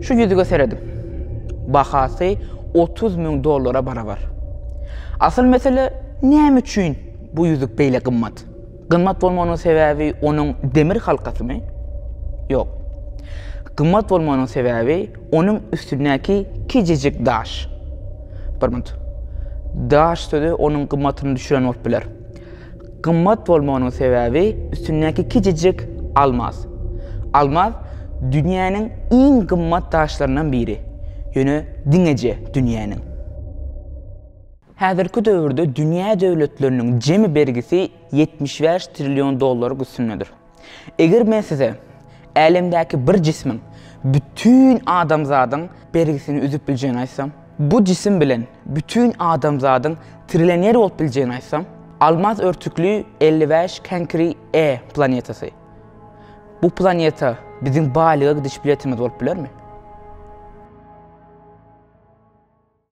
Şu ýüzüge seredip, bahasy 30 müň dollara barabar. Asyl mesele näme üçin bu ýüzük beýle gymmat? Gymmat bolmagynyň sebäbi onuň demir halkasymy? Ýok. Gymmat bolmagynyň sebäbi onuň üstündäki kiçijik daş. Bir minut. Daş sözi onuň gymmatyny düşüren bolup biler. Gymmat bolmagynyň sebäbi üstündäki kiçijik almaz. Almaz dünýäniň iň gymmat daşlaryndan biri, ýöne diňeje dünýäniň. Häzirki döwürde dünýä döwletleriniň jemi bergisi ýetmiş bäş trillion dollar üstündedir. Eger men size Älemdäki bir jismiň bütin adamzadyň bergisini üzüp biljegini aýtsam, bu jisim bilen bütin adamzadyň trilener bolup biljegini aýtsam, almaz örtükli elli bäş Kenkri E planetasy, bu planeta biziň baýlyga gidiş biletimiz bolup bilermi?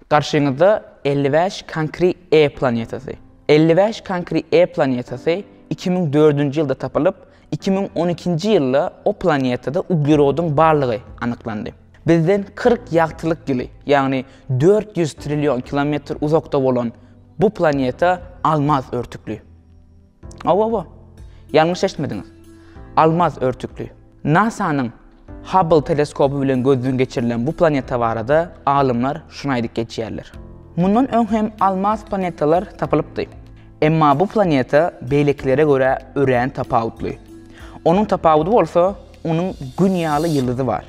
Garşyňyzda elli bäş Kankri E planetasy. Elli bäş Kankri E planetasy iki müň dördünji ýylda tapylyp, iki müň on ikinji ýylda o planetada uglerodyň barlygy anyklandy. Bizden kyrk ýagtylyk ýyly, ýagny dört ýüz trillion kilometr uzakda bolan bu planeta almaz örtükli. Hawa-hawa, ýalňyş eşitmediňiz. Almaz örtükli. NASA-nyň Hubble teleskoby bilen gözden geçirilen bu planeta barada alymlar şuny aýdyp geçýärler. Mundan öň hem almaz planetalar tapylypdy. Emma bu planeta beýlekilere görä örän tapawutly. Onuň tapawudy bolsa, onuň Gün ýaly ýyldyzy bar.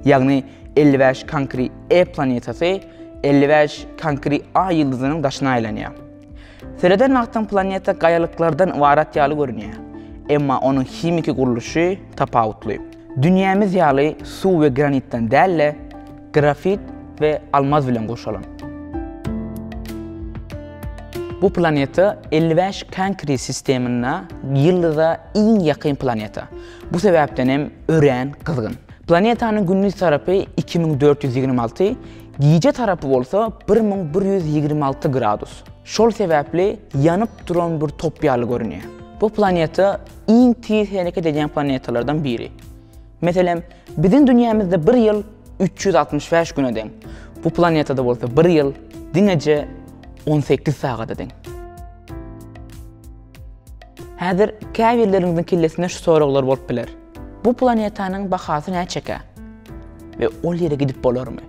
Ýagny elli bäş Kankri E planetasy elli bäş Kankri A ýyldyzynyň daşyna aýlanýar. Sereden wagtyň planeta gaýalyklardan ybarat ýaly görünýär. Emma onuň himiki gurluşy tapawutly. Dünýämiz ýaly suw we granitden däl-de, grafit we almaz bilen gurşalan. Bu planeta elli bäş Kankri sistemynda ýyldyza iň ýakyn planeta. Bu sebäpden hem örän gyzgyn. Planetanyň gündiz tarapy iki müň dört ýüz ýigrimi alty, Gije tarapy bolsa bir müň bir ýüz ýigrimi alty gradus. Şol sebäpli ýanyp duran bir top ýaly görünýär. Bu planeta iň tiz hereket edýän planetalardan biri. Meselem, biziň dünýämizde bir ýyl üç ýüz altmyş bäş güne deň. Bu planetada bolsa bir ýyl diňeje on sekiz sagada deň. Häzir käbirleriňiziň kellesinde şu soraglar bolup biler. Bu planetanyň bahasy näçekä we ol ýere gidip bolarmy?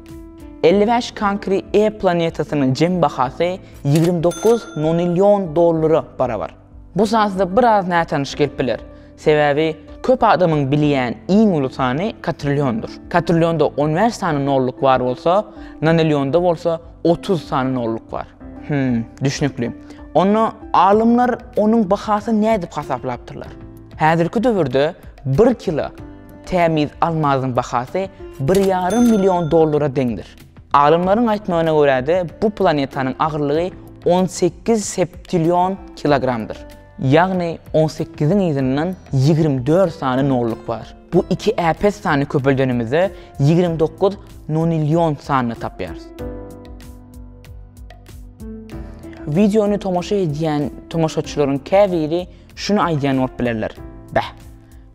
Elli bäş Kankri E planetasynyň jem bahasy ýigrimi dokuz nonillion dollara barabar. Bu sazda biraz nätanyş gelip biler, sebäbi köp adamyň bilýän iň uly sany katrilliondyr. Katrillionda on bäş sany nolluk bar bolsa, nonillionda bolsa otuz sany nolluk bar. Hüm, düşnükli. Onda alymlar onuň bahasyny nädip hasaplapdyrlar? Häzirki döwürde bir kilo tämiz almazyň bahasy bir ýarym million dollara deňdir. Alymlaryň aýtmagyna görä-de, bu planetanyň agyrlygy on sekiz septillion kilogramdyr. Ýagny on sekiziň yzyndan ýigrimi dört sany nolluk bar. Bu iki äpet sany köpeldenimizde ýigrimi dokuz nonillion sanyny tapýarys. Wideony tomaşa edýän tomaşaçylaryň käbiri Şuny aýdýan bolup bilerler. Beh.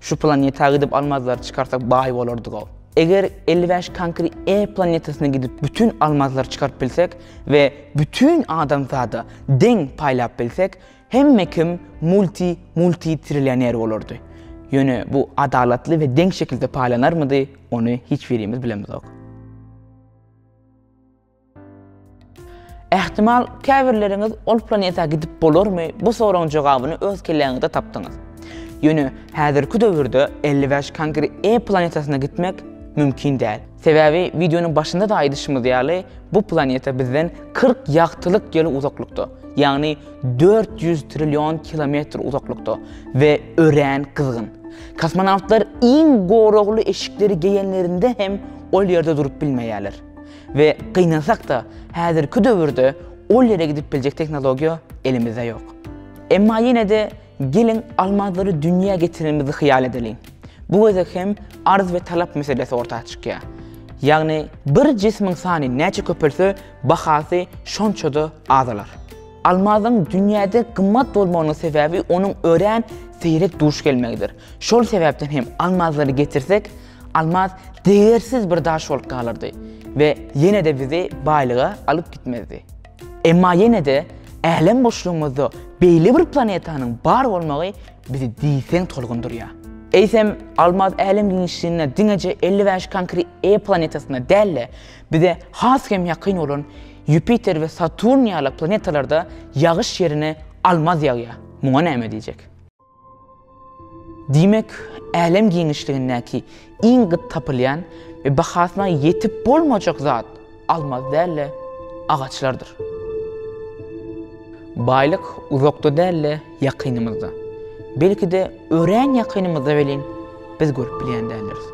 Şu planeta gidip almazlary çykarsak baý bolardygow. Eger elli bäş Kankri E planetasyna gidip bütin almazlary çykaryp bilsek we bütin adamzada deň paýlap bilsek, hemme kim multi multi trilioner bolardy. Ýöne bu adalatly we deň şekilde paýlanarmydy, ony hiç birimiz bilemizok. Ähtimal, käbirleriňiz ol planeta gidip bolarmy bu soragyň jogabyny öz kelläňizde tapdyňyz. Ýöne häzirki döwürde elli bäş Kangri E planetasyna gitmek mümkin däl. Sebäbi wideonyň başynda-da aýdyşymyz ýaly, bu planeta bizden kyrk ýagtylyk ýyl uzaklykda, ýagny dört ýüz trillion kilometr uzaklykda we örän gyzgyn. Kosmonawtlar iň goragly eşikleri geýenlerinde hem ol ýerde durup bilmeýärler. We gynansak-da, häzirki döwürde ol ýere gidip biljek tehnologiýa elimizde ýok. Emma ýene-de geliň almazlary dünýä getirenimizi hyýal edeliň. Bu gezek hem arz we talap meselesi orta çykýar. Ýagny bir jismiň sany näçe köpelse, bahasy şonça-da azalar. Almazyň dünýäde gymmat bolmagynyň sebäbi onuň örän seýrek duş gelmegidir. Şol sebäpden hem almazlary getirsek, Almaz degersiz bir daş bolup galardy we ýene-de bizi baýlyga alyp gitmezdi. Emma ýene-de älem boşlugymyzda beýle bir planetanyň bar bolmagy bizi diýseň tolgundyrýar. Eýsem, Almaz älem giňişliginde diňeje elli bäş konkre e planetasyna däl-de, bize has hem ýakyn bolan Ýupiter we Saturn ýaly planetalarda ýagyş ýerine almaz ýagýar. Muňa näme diýjek? Diýmek, älem giňişligindäki iň gyt tapylýan we bahasyna ýetip bolmajak zat almaz däl-de, agaçlardyr. Baýlyk uzakda däl-de, ýakynymyzda. Belki-de, örän ýakynymyzda welin, biz görüp bilýän däldiris.